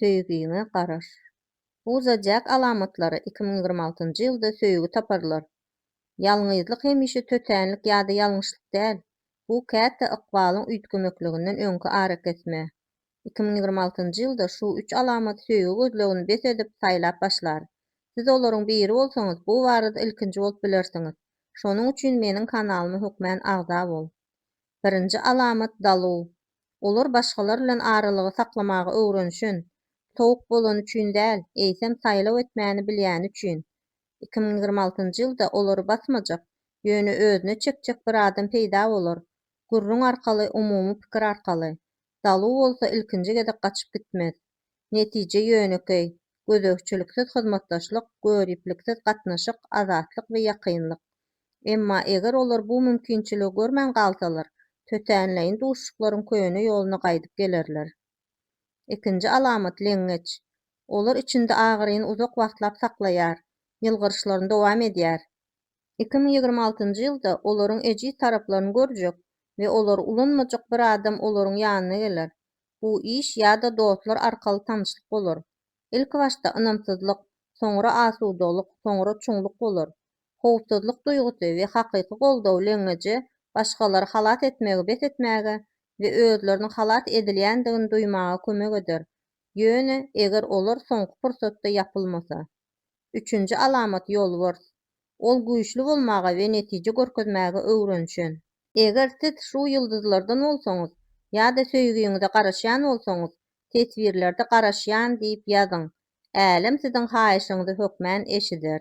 Söýgiňe garaş. Uza Jack alamatlary iki müň ýigrimi altynjy ýylda söýgi taparlar. Ýalňyzlyk hemişe tötänlik ýa-da ýalňyşlyk däl. Bu käte ykbalyň üýtgemekliginden öňki arakesme. Iki müň ýigrimi altynjy ýylda şu üç alamat söýgi gözlegini bes edip, saýlap başlar. Siz olaryň biri bolsaňyz, bu barada ilkinji bolup bilersiňiz. Şonuň üçin meniň kanalyma hökmän agza bol. Birinji alamat, daluw. Olar başgalar bilen aralygy saklamagy öwrenişen, sowuk bolany üçin däl, eýsem saýlaw etmäni bilýäni üçin. Iki müň ýigrimi altynjy ýylda olary basmajak, ýöne özüne çekjek bir adam peýda bolar, gürrüň arkaly, umumy pikir arkaly. Dalu bolsa ilkinji gezek gaçyp gitmez. Netije ýönekeý, gözegçiliksiz hyzmatdaşlyk, görüpliksiz gatnaşyk, azatlyk we ýakynlyk. Emma eger olar bu mümkinçiligi görmän galsalar, tötänleýin duşuşyklaryň köne ýoluna gaýdyp gelerler. Ikinji alamat, leňňeç. Olar içinde agyryny uzak wagtlap saklaýar, ýylgyryşlaryny dowam edýär. Iki müň ýigrimi altynjy ýylda olaryň ejiz taraplaryny görjek we olary ulanmajak bir adam olaryň ýanyna geler. bu iş ýa-da dostlar arkaly tanyşlyk bolar. Ilkibaşda ynamsyzlyk, soňra asudalyk, soňra çuňluk bolar. Howpsuzlyk duýgusy we hakyky goldaw leňňeje başgalary halas etmegi bes etmäge we özlerini halas edilýändigini duýmaga kömek eder, ýöne eger olar soňky pursatda ýapylmasa. Üçünji alamat ýolbars. Ol güýçli bolmaga we netije görkezmäge öwrenişen. Eger siz şu ýyldyzlardan bolsaňyz ýa-da söýgiňize garaşýan bolsaňyz, teswirlerde Garaşýan diýip ýazyň. Älem siziň haýyşyňyzy hökmän eşider.